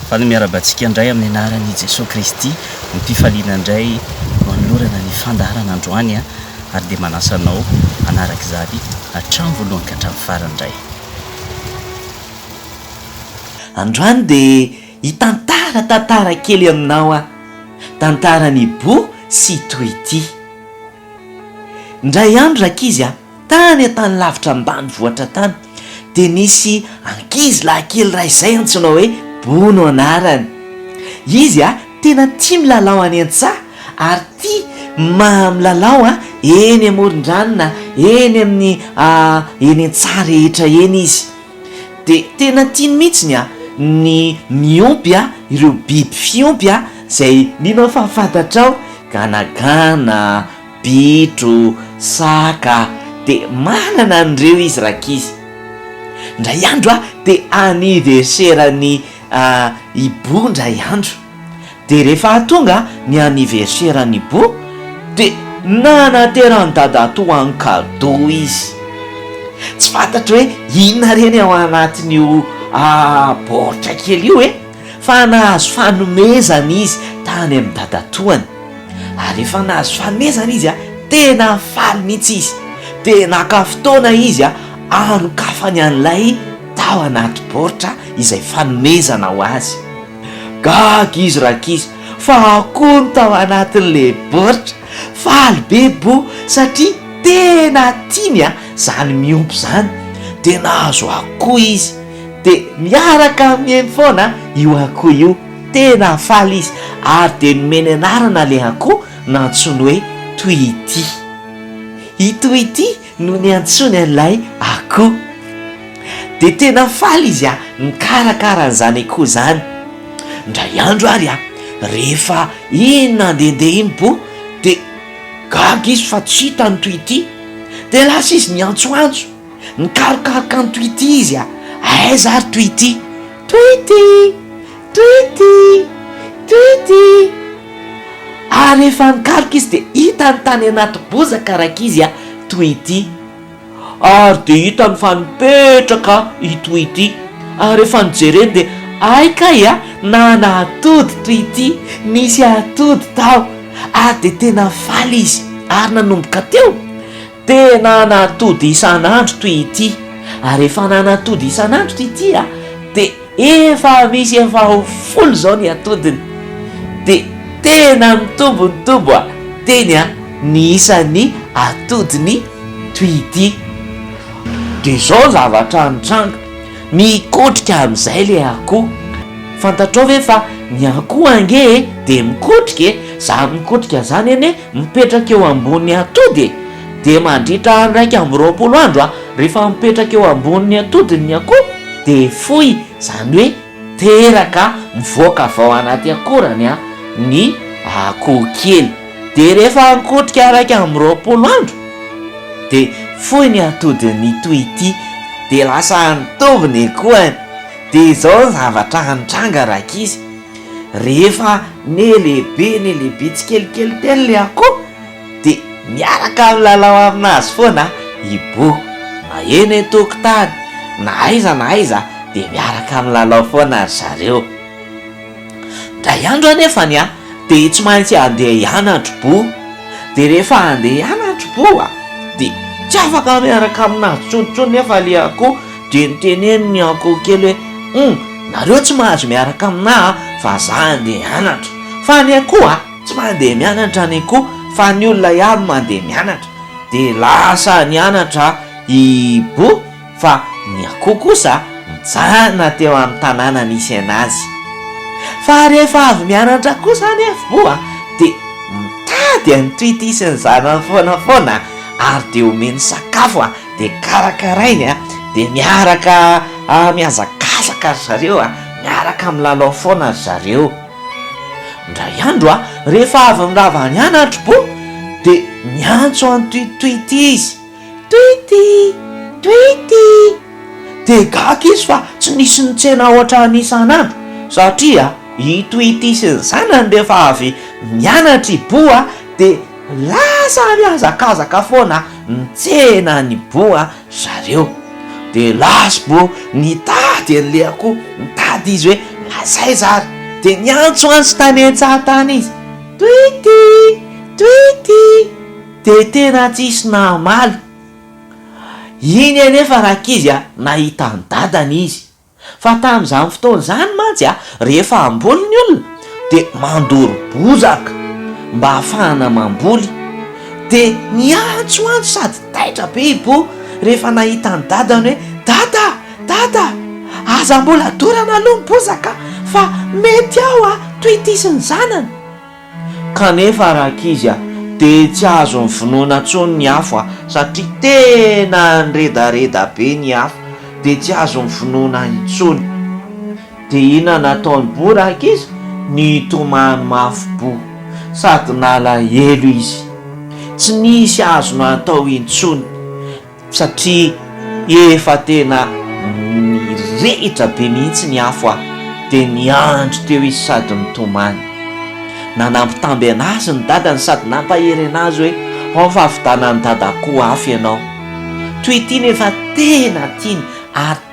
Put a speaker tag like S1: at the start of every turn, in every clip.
S1: Fa ny miarahaba antsika indray amin'ny anaran' i Jesoa Kristy mipifaliana indray no anolorana ny fandaharana androany ary dia manasa anao hanaraka izany hatramin'ny voalohany ka hatramin'ny farany indray.
S2: Androany dia hitantara tantara kely aminao aho, tantaran'i Boo sy Tweety. Indray andro rankizy a! Tany an-tany lavitra ambanivohitra tany, dia nisy ankizy lahy kely iray izay antsoina hoe Bono anarany. Izy tena tia milalao any an-tsaha ary tia milalao eny amoron-drano na eny amin'ny eny an-tsaha rehetra eny izy. Dia tena tiany mihitsy ny miompy ireo biby fiompy izay mino aho fa fantatrao, ganagana, Bitro, saka, dia manana an'ireo izy rankizy. Indray andro a, dia anniverseran'i Hibou indray andro. Dia rehefa tonga ny anniverseran'i Hibou, dia nanateran'i Dadatoa hanao cadeau izy. Tsy fantatro hoe inona ireny ao anatin'io baoritra kely io e! fa nahazo fanomezana izy tany amin'ny dadatoany, ary rehefa nahazo fanomezana izy, tena faly mihitsy izy, dia naka fotoana izy hanokafany an'ilay tao anaty baoritra izay fanomezana ho azy. Gaga izy rankizy, fa akoho no tao anatin'ilay baoritra! Faly be Bo satria tena tiany a zany miompy zany de nahazo akoho izy de miaraka mihaino foana io akoho io tena faly izy ary de nomeny anarana le akoho nantsoiny hoe Toity ity Toity no niantsoany an'ilay akoho. Dia tena faly izy an, nikarakara an'izany akoho izany. Indray andro ary an, rehefa iny nandehandeha iny bo, dia gaga izy fa tsy hita an'i Twity. Dia lasa izy niantsoantso, nikarokaroka an'i Twity izy an, aiza ary Twity? Twity! Tuity! Tuity! Ary rehefa nikaroka izy dia hitany tany anaty bozaka raikizy a Tuity. Ary dia hitany fa nipetraka i Tuity. Ary rehefa nijereny dia hay kay a, nana atody Tuity, nisy atody tao. Ary dia tena faly izy. Ary nanomboka teo. Tena an'atody isan'andro toy ity, ary efa an'an'atody isan'andro ity tia dia efa misy efa ho folo izao ny atodiny, dia tena mitombo mitombo a teny a ny isan'ny atodiny toy ity, dia izao zavatra nitranga, mikotrika amin'izay ilay akoho, fantatrao ve fa ny akoho ange e dia mikotrika e, zany mikotrika zany anie Mipetraka eo ambonin'ny atody e! Dia mandritra iraika amby roapolo andro a! Rehefa mipetraka eo ambonin'ny atody ny akoho dia foy, izany hoe teraka mivoaka avy ao anaty akorany a! ny akoho kely. Dia rehefa mikotrika iraika amby roapolo andro dia foy ny atodin'ny toy ity, dia lasa nitovy ny akohany. Dia izao ny zavatra nitranga rankizy. Rehefa nelehibe nelehibe tsikelikely teny ilay akoho dia miaraka milalao aminazy foana i Bo. Na eny an-tokotany na aiza na aiza dia miaraka milalao foana ry zareo. Indray andro anefa ny ahy dia tsy maintsy handeha hianatro Bo. Dia rehefa handeha hianatro Bo dia tsy afaka miaraka aminazy intsony intsony nefa ilay akoho. Dia niteneno ny ankoho kely hoe, Humm, nareo tsy mahazo miaraka aminà a! fa zà andeha hianatra. Fa ny akoho a! tsy mandeha mianatra ny akoho fa ny olona ihany mandeha mianatra. Dia lasa nianatra i Bo fa ny akoho kosa nijanona teo amin'ny tanàna nisy an'azy. Fa rehefa avy mianatra kosa anefa Bo a! dia mitady an'i Tweety sy ny zanany foana foana ary dia omeny sakafo a! dia karakarainy a, dia miaraka mihazakazaka ry zareo a, miaraka milalao foana ry zareo. Indray andro a, rehefa avy nirava any an Andribo dia niantso an'i Twitwity izy, Twity! Twity! Dia gaga izy fa tsy nisy nitsena ohatran'ny isan'andro, satria i Twity sy ny zanany rehefa avy mianatra i Bo a dia. Lasa mihazakazaka foana nitsena ny boa zareo. Dia lasbo nitady an'i Lea koa, nitady izy hoe mazaiza ary. Dia niantso an'i Stanetsatan izy. Twity! Twity! Dia tena tsisy namaly. Iny anefa rankizy a, nahita an'i dadany izy. Fa tamin'izany fotoana izany mantsy, rehefa hamboly ny olona, dia mandoro bozaka mba hahafahana mamboly. Dia niantsoantso sady taitra be i Bo rehefa nahita an'i Dadany hoe, Dada! Dada! Aza mbola dorana aloha ny bozaka fa mety ao toy ity sy ny zanany. Kanefa rankizy a! dia tsy azon'ny vinoana tsony ny afo a! satria tena niredareda be ny afo dia tsy azon'ny vinoana intsony! dia inona nataony bo rankizy? nitomany mafy bo! sady nalahelo izy! tsy nisy azony atao intsony! Satria efa tena nirehitra be mihitsy ny afo aho, dia niandry teo izy sady nitomany. Nanambitamby an'azy ny dadany sady nampahery an'azy hoe, Ao fa avidanan'i dada koa afo ianao. Toy ity nefa tena tiany ary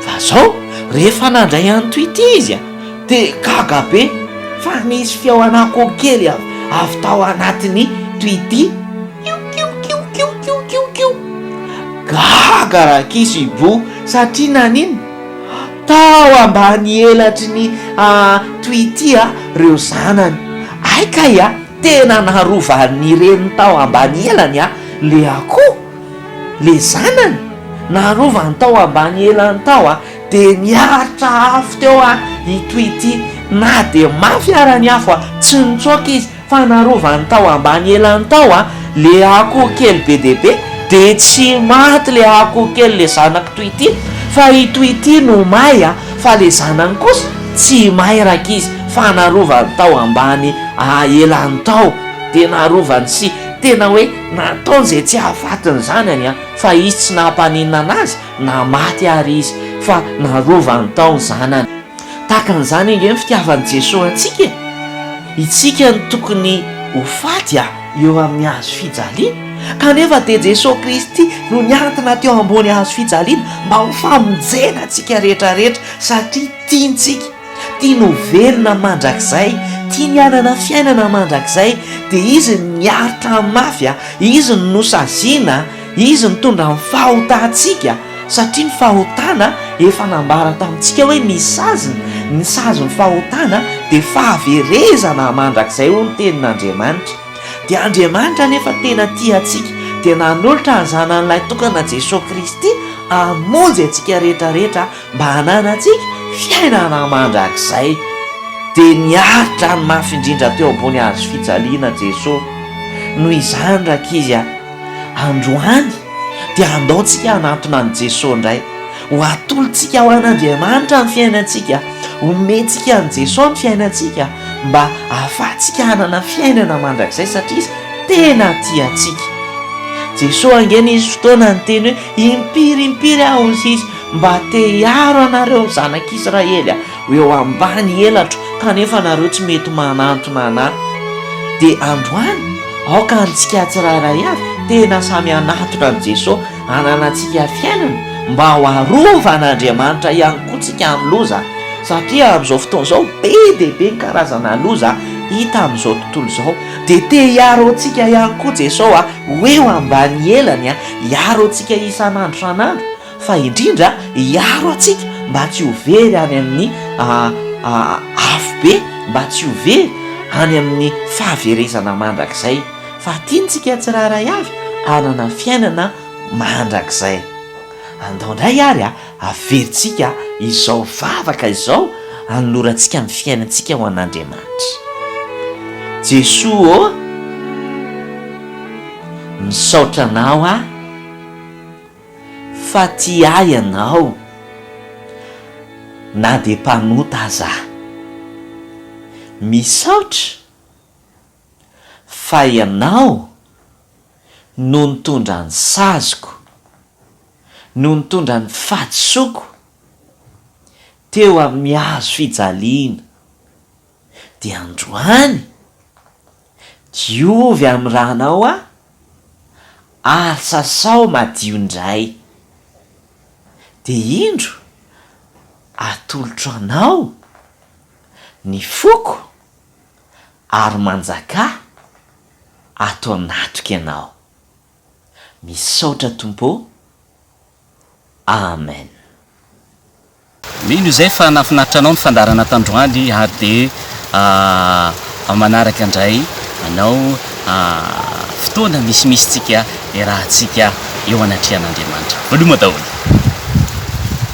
S2: Fa zao rehefa nandray an to ity izy de gaga be fa nisy feo an'akoho kely avy tao anatin'ny to ity kiokiokiokiokiokio. Gaga Rakiso Ibo satria naninona? Tao ambany elatry ny to ity reo zanany. Hay kay a! Tena narovan'ny reniny tao ambany elany le akoho. Le zanany narovany tao ambany elany tao a de niaritra afo teo a ito ity na de mafy ara ny afo a tsy nitsoaka izy fa narovany tao ambany elany tao a le akoho kely be de be de tsy maty le akoho kely le zanako to ity fa ito ity no may a fa le zanany kosa tsy may rakizy fa narovany tao ambany a elany tao de narovany sy tena hoe Nataony izay tsy hahafatiny izany any an, fa izy tsy nampaninona anazy na maty ary izy, fa narovany tao ny zanany. Tahaka an'izany ange ny fitiavan'i Jesoa antsika e! Itsika no tokony ho faty an, eo amin'ny hazo fijaliana, kanefa dia Jesoa Kristy no niantona teo ambony hazo fijaliana mba ho famonjena antsika rehetra rehetra satria tiantsika. Tiany ho velona mandrakizay, tiany hanana fiainana mandrakizay, dia Izy no niaro tamin'ny mafy, Izy no nosaziana, Izy nitondra ny fahotantsika, satria ny fahotana efa nambara tamintsika hoe misy saziny, ny sazin'ny fahotana dia fahaverezana mandrakizay hoy ny tenin'Andriamanitra. Dia Andriamanitra anefa tena tia antsika, dia nanolotra ny Zanany Lahitokana Jesoa Kristy hamonjy antsika rehetra rehetra mba hananantsika fiainana mandrakizay. Dia niaritra ny mafy indrindra teo ambony hazo fijaliana Jesoa. Noho izany rankizy a! androany dia handaontsika hanantona an'i Jesoa indray. Ho atolotsika ho an'Andriamanitra ny fiainantsika, homentsika an'i Jesoa ny fiainantsika mba ahafahantsika hanana fiainana mandrakizay satria Izy tena tia antsika. Jesoa ange nisy fotoana niteny hoe impiry impiry aho hoy Izy Mba te hiaro anareo zanak' Israely ho eo ambany elatro kanefa nareo tsy mety manantona anah. Dia androany aoka antsika tsirairay avy tena samy hanatona an'i Jeso hananantsika fiainana mba ho arovan' Andriamanitra ihany koa tsika amin'ny loza satria amin'izao fotoana izao be dia be ny karazana loza hita amin'izao tontolo izao dia te hiaro antsika ihany koa Jeso ho eo ambany elany hiaro antsika isan'andro isan'andro fa indrindra hiaro antsika mba tsy ho very any amin'ny afobe, mba tsy ho very any amin'ny fahaverezana mandrakizay, fa tiantsika tsirairay avy hanana fiainana mandrakizay. Andao indray àry averintsika izao vavaka izao hanolorantsika ny fiainantsika ho an'Andriamanitra. Jesoa ô, misaotra Anao aho. fa tia ahy ianao na dia mpanota aza aho. Misaotra fa ianao no nitondra ny saziko, no nitondra ny fahadisoako teo amin'ny hazo fijaliana. dia androany, diovy amin'ny rano ao aho, ary sasao madio indray. Dia indro, atolotro anao ny foko, ary manjakà ato anatiko ianao. Misaotra Tompo ô! Amen.
S1: Mino izay fa nahafinaritra anao ny fandaharana tandroany ary dia manaraka indray anao fotoana misimisy tsika iarahantsika eo anatrehan'Andriamanitra. Veloma daholo.